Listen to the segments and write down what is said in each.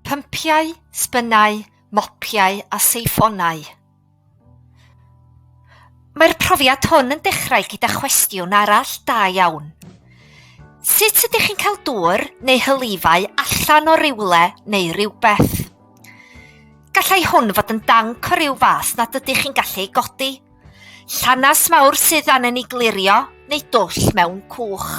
Pympiau, sbynnau, mopiau a seifonau. Mae'r profiad hwn yn dechrau gyda chwestiwn arall da iawn. Sut ydych chi'n cael dŵr neu hylifau allan o rywle neu rywbeth? Gallai hwn fod yn danc o ryw fath nad ydych chi'n gallu ei godi, llanas mawr sydd angen ei glirio neu dwll mewn cwch.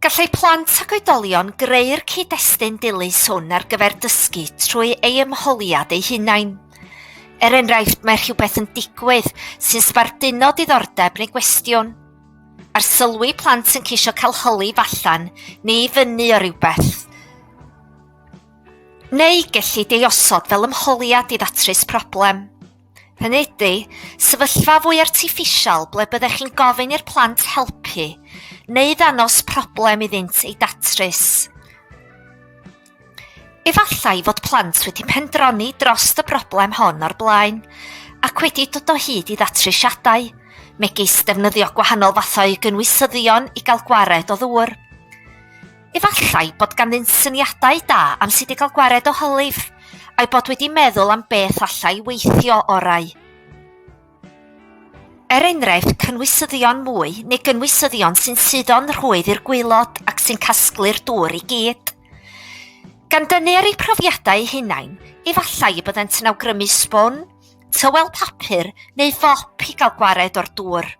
Gallai plant ac oedolion greu'r cyd-destun dilys hwn ar gyfer dysgu trwy ei ymholiad eu hunain. Er enghraifft, mae rhywbeth yn digwydd sy'n sbarduno diddordeb neu gwestiwn. Ar sylwi plant yn ceisio cael hylif allan neu i fyny o rywbeth. Neu gellid ei osod fel ymholiad i ddatrys problem. Hynny ydy, sefyllfa fwy artiffisial ble byddech chi'n gofyn i'r plant helpu neu ddanos problem iddynt ei datrys. Efallai fod plant wedi pendroni dros y broblem hon o'r blaen ac wedi dod o hyd i ddatrisiadau, megis defnyddio gwahanol fathau gynwysyddion i gael gwared o ddŵr. Efallai bod ganddynt syniadau da am sut i gael gwared o hylif, a'u bod wedi meddwl am beth allai weithio orau. Er enghraifft, cynwysyddion mwy neu gynwysyddion sy'n suddo'n rhwydd i'r gwaelod ac sy'n casglu'r dŵr i gyd. Gan dynnu ar eu profiadau eu hunain, efallai y byddent yn awgrymu sbwn, tywel papur neu fop i gael gwared o'r dŵr.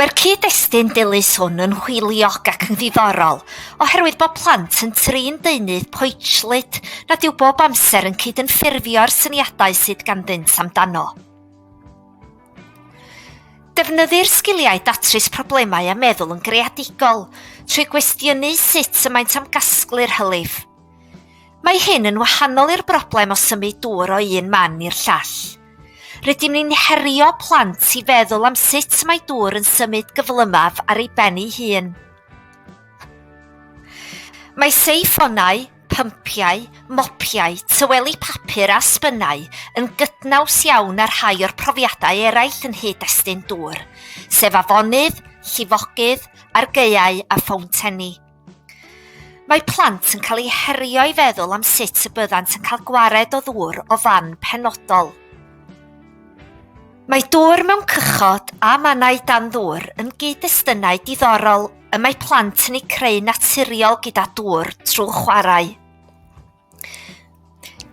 Mae'r cyd-destun dilys hwn yn hwyliog ac yn ddiddorol, oherwydd bod plant yn trin deunydd poetllyd nad yw bob amser yn cydymffurfio'r syniadau sydd ganddynt amdano. Defnyddir sgiliau datrys problemau a meddwl yn greadigol, trwy gwestiynu sut y maent am gasglu'r hylif. Mae hyn yn wahanol i'r broblem o symud dŵr o un man i'r llall. Rydym ni'n herio plant i feddwl am sut mae dŵr yn symud gyflymaf ar ei ben ei hun. Mae seifonau, pympiau, mopiau, tyweli papur a sbynnau yn gydnaws iawn â rhai o'r profiadau eraill yn hyd destun dŵr, sef afonydd, llifogydd, argaeau a ffowntenni. Mae plant yn cael eu herio i feddwl am sut y byddant yn cael gwared o ddŵr o fan penodol. Mae dŵr mewn cychod a mannau dan ddŵr yn gyd-destunau diddorol y mae plant yn eu creu naturiol gyda dŵr trwy chwarae.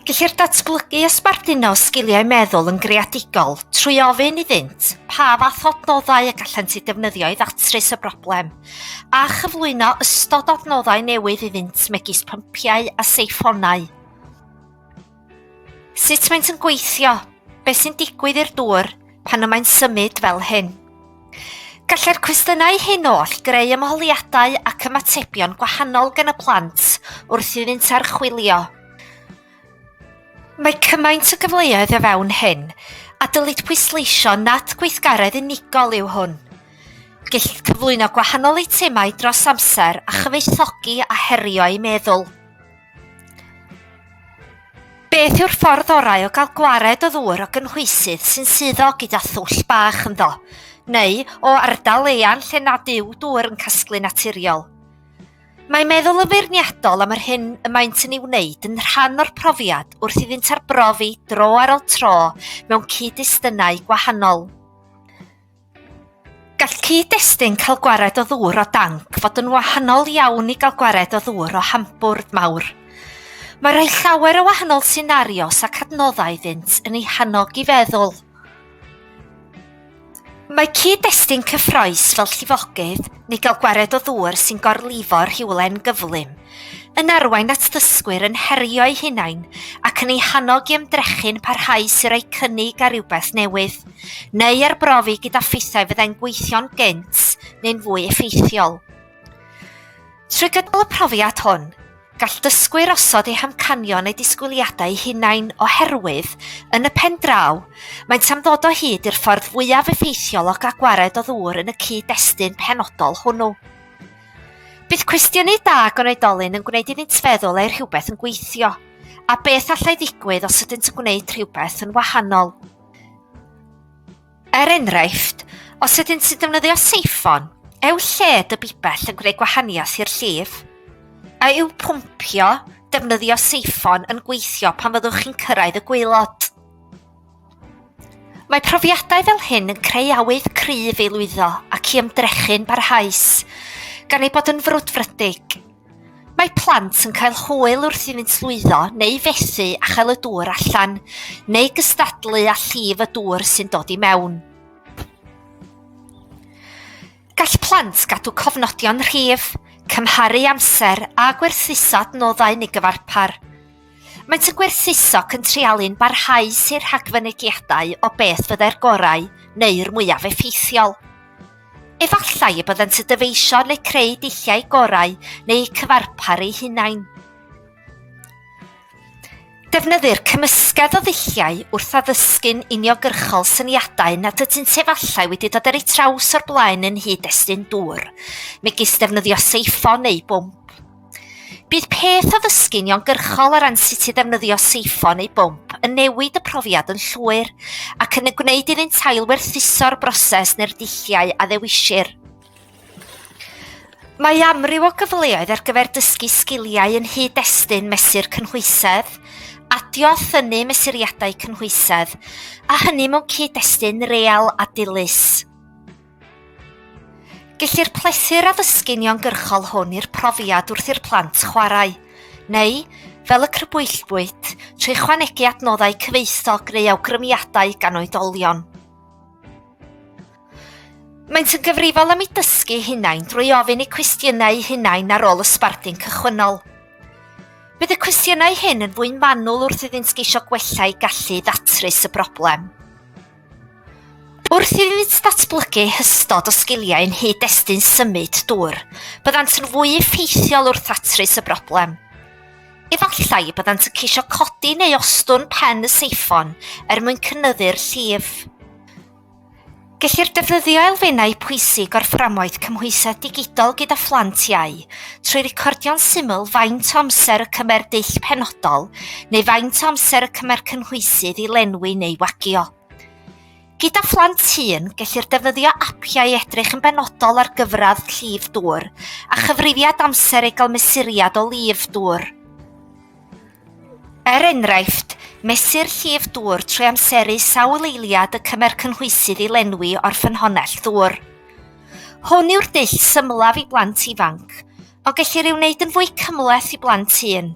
Gellir datblygu a sbarduno sgiliau meddwl yn greadigol trwy ofyn iddynt pa fath o adnoddau y gallant eu defnyddio i ddatrys y broblem, a chyflwyno ystod o adnoddau newydd iddynt megis pympiau a seiffonau. Sut maent yn gweithio? Beth sy'n digwydd i'r dŵr pan y mae'n symud fel hyn? Gallai'r cwestiynau hyn oll greu ymholiadau ac ymatebion gwahanol gan y plant wrth iddynt archwilio. Mae cymaint o gyfleoedd o fewn hyn, a dylid pwysleisio nad gweithgaredd unigol yw hwn. Gellid cyflwyno gwahanol eitemau dros amser a chyfoethogi a herio eu meddwl. Beth yw'r ffordd orau o gael gwared o ddŵr o gynhwysydd sy'n suddo gyda thwll bach ynddo, neu o ardal eang lle nad yw dŵr yn casglu naturiol? Mae meddwl yn feirniadol am yr hyn y maent yn ei wneud yn rhan o'r profiad wrth iddynt arbrofi dro ar ôl tro mewn cyd-destunau gwahanol. Gall cyd-destun cael gwared o ddŵr o danc fod yn wahanol iawn i gael gwared o ddŵr o hambwrdd mawr. Mae rhoi llawer o wahanol senarios ac adnoddau iddynt yn ei hannog i feddwl. Mae cyd-destun cyffroes fel llifogydd neu gael gwared o ddŵr sy'n gorlifo rhywle'n gyflym. yn arwain at ddysgwyr yn herio'u hunain ac yn eu hannog i ymdrechu'n parhaus i roi cynnig ar rywbeth newydd, neu arbrofi gyda ffeithiau fyddai'n gweithio'n gynt neu'n fwy effeithiol. Trwy gydol y profiad hwn, gall dysgwyr osod eu hamcanion eu disgwyliadau hunain oherwydd, yn y pen draw, maent am ddod o hyd i'r ffordd fwyaf effeithiol o gael gwared o ddŵr yn y cyd-destun penodol hwnnw. Bydd cwestiynu da gan oedolyn yn gwneud iddynt feddwl ei rhywbeth yn gweithio, a beth allai ddigwydd os ydynt yn gwneud rhywbeth yn wahanol. Er enghraifft, os ydynt sy'n defnyddio seiffon, eu lled y bibell yn gwneud gwahaniaeth i'r llif? A yw pwmpio, defnyddio seiffon, yn gweithio pan fyddwch chi'n cyrraedd y gwaelod? Mae profiadau fel hyn yn creu awydd cryf i lwyddo ac i ymdrechu'n barhaus, gan ei bod yn frwdfrydig. Mae plant yn cael hwyl wrth iddynt lwyddo neu fethu a chael y dŵr allan, neu gystadlu â llif y dŵr sy'n dod i mewn. Gall plant gadw cofnodion rhif, cymharu amser a gwerthuso adnoddau neu gyfarpar. Maent yn gwerthuso cyntrealu'n barhaus i'r rhagfynegiadau o beth fyddai'r gorau neu'r mwyaf effeithiol. Efallai y byddant yn dyfeisio neu creu dulliau gorau neu eu cyfarpar eu hunain. Defnyddir cymysgedd o ddulliau wrth addysgu'n uniogyrchol syniadau nad ydynt efallai wedi dod ar eu traws o'r blaen yn hyd estyn dŵr, megis defnyddio seiffon neu bwmp. Bydd peth o ddysgu'n iongyrchol o ran sut i ddefnyddio seiffon neu bwmp yn newid y profiad yn llwyr ac yn y gwneud iddynt ailwerthuso'r broses neu'r dulliau a ddewisir. Mae amryw o gyfleoedd ar gyfer dysgu sgiliau yn hyd destun mesur cynhwysedd, adio a thynnu mesuriadau cynhwysedd, a hynny mewn cyd-destun real a dilys. Gellir plesu'r addysgu'n iongyrchol hwn i'r profiad wrth i'r plant chwarae, neu, fel y crybwyllbwyd, trwy chwanegu adnoddau cyfoethog neu awgrymiadau gan oedolion. Maent yn gyfrifol am eu dysgu hunain drwy ofyn eu cwestiynau eu hunain ar ôl y sbardun cychwynnol. Bydd y cwestiynau hyn yn fwy manwl wrth iddynt geisio gwella eu gallu i ddatrys y broblem. Wrth iddynt ddatblygu hystod o sgiliau yn nghyd-destun symud dŵr, byddant yn fwy effeithiol wrth ddatrys y broblem. Efallai y byddant yn ceisio codi neu ostwng pen y seiffon er mwyn cynyddu'r llif. Gellir defnyddio elfennau pwysig o'r fframwaith cymhwysedd digidol gyda phlant iau trwy recordio'n syml faint o amser y cymer dull penodol neu faint o amser y cymer cynhwysydd i lenwi neu wagio. Gyda phlant hŷn, gellir defnyddio apiau i edrych yn benodol ar gyfradd llif dŵr a chyfrifiad amser ei gael mesuriad o lif dŵr. Er enghraifft, mesur llif dŵr trwy amseru sawl eiliad y cymer cynhwysydd i lenwi o'r ffynhonnell ddŵr. Hwn yw'r dull symlaf i blant ifanc, ond gellir ei wneud yn fwy cymhleth i blant hŷn.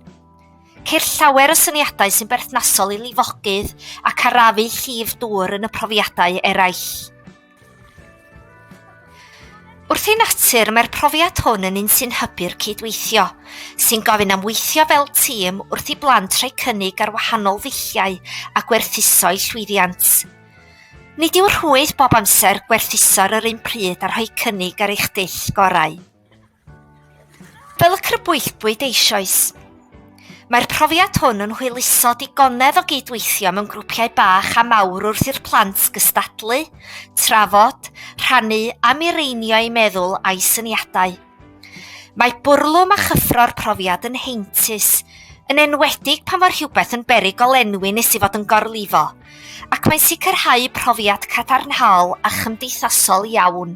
Ceir llawer o syniadau sy'n berthnasol i lifogydd ac arafu llif dŵr yn y profiadau eraill. Wrth ei natur, mae'r profiad hwn yn un sy'n hybu'r cydweithio, sy'n gofyn am weithio fel tîm wrth i blant rhoi cynnig ar wahanol ddulliau a gwerthuso eu llwyddiant. Nid yw rhwydd bob amser gwerthuso'r yr un pryd a rhoi cynnig ar eich dull gorau. Fel y crybwyllbwyd eisoes. Mae'r profiad hwn yn hwyluso digonedd o gydweithio mewn grwpiau bach a mawr wrth i'r plant gystadlu, trafod, rhannu a mireinio eu meddwl a'u syniadau. Mae bwrlwm a chyffro'r profiad yn heintus, yn enwedig pan fo rhywbeth yn beryg golenwi nes i fod yn gorlifo, ac mae'n sicrhau profiad cadarnhaol a chymdeithasol iawn.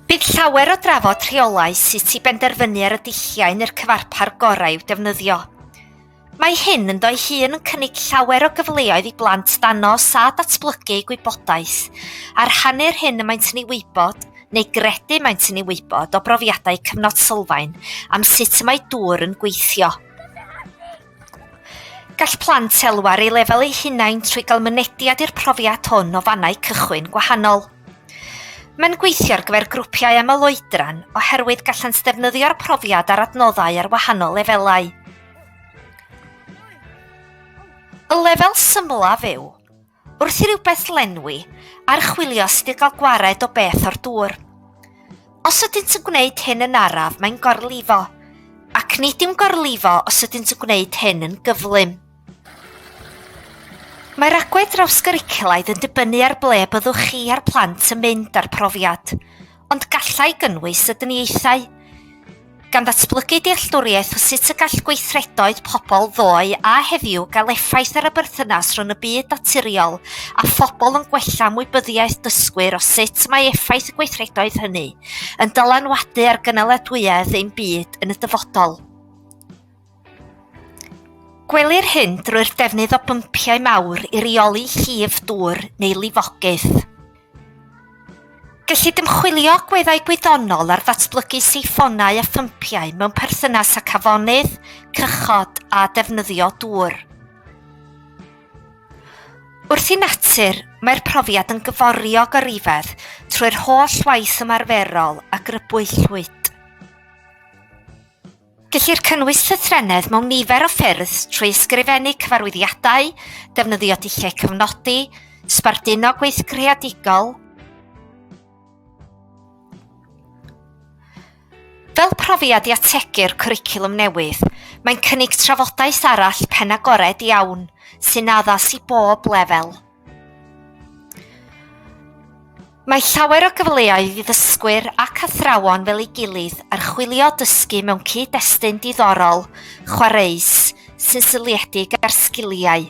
Bydd llawer o drafod rheolau sut i benderfynu ar y dulliau neu'r cyfarpar gorau i'w defnyddio. Mae hyn ynddo'i hun yn cynnig llawer o gyfleoedd i blant ddanos a datblygu eu gwybodaeth, a rhannu'r hyn y maent yn ei wybod, neu gredu maent yn ei wybod, o brofiadau cyfnod sylfaen am sut y mae dŵr yn gweithio. Gall plant elwa ar ei lefel eu hunain trwy gael mynediad i'r profiad hwn o fannau cychwyn gwahanol. Mae'n gweithio ar gyfer grwpiau aml oedran oherwydd gallant ddefnyddio'r profiad ar adnoddau ar wahanol lefelau. Y lefel symlaf yw, wrth i rywbeth lenwi, archwilio sut i gael gwared o beth o'r dŵr. Os ydynt yn gwneud hyn yn araf, mae'n gorlifo, ac nid yw'n gorlifo os ydynt yn gwneud hyn yn gyflym. Mae'r agwedd drawsgwricwlaidd yn dibynnu ar ble byddwch chi a'r plant yn mynd â'r profiad. ond gallai gynnwys y dyniaethau, gan ddatblygu dealltwriaeth o sut y gall gweithredoedd pobl ddoe a heddiw gael effaith ar y berthynas rhwng y byd naturiol a phobl yn gwella mwybyddiaeth dysgwyr o sut mae effaith y gweithredoedd hynny yn dylanwadu ar gynaliadwyedd ein byd yn y dyfodol. Gwelir hyn drwy'r defnydd o bympiau mawr i reoli llif dŵr neu lifogydd. Gellid ymchwilio agweddau gwyddonol ar ddatblygu seifonau a phympiau mewn perthynas â cafonydd, cychod a defnyddio dŵr. Wrth i natur, mae'r profiad yn gyforiog o rifedd trwy'r holl waith ymarferol a grybwyllwyd. Gellir cynnwys llythrennedd mewn nifer o ffyrdd trwy ysgrifennu cyfarwyddiadau, defnyddio dulliau cyfnodi, sbarduno gweith creadigol, Fel profiad i ategu'r cwricwlwm newydd, mae'n cynnig trafodaeth arall pen-agored iawn sy'n addas i bob lefel. Mae llawer o gyfleoedd i ddysgwyr ac athrawon fel ei gilydd archwilio dysgu mewn cyd-destun diddorol, chwareus, sy'n seiliedig ar sgiliau.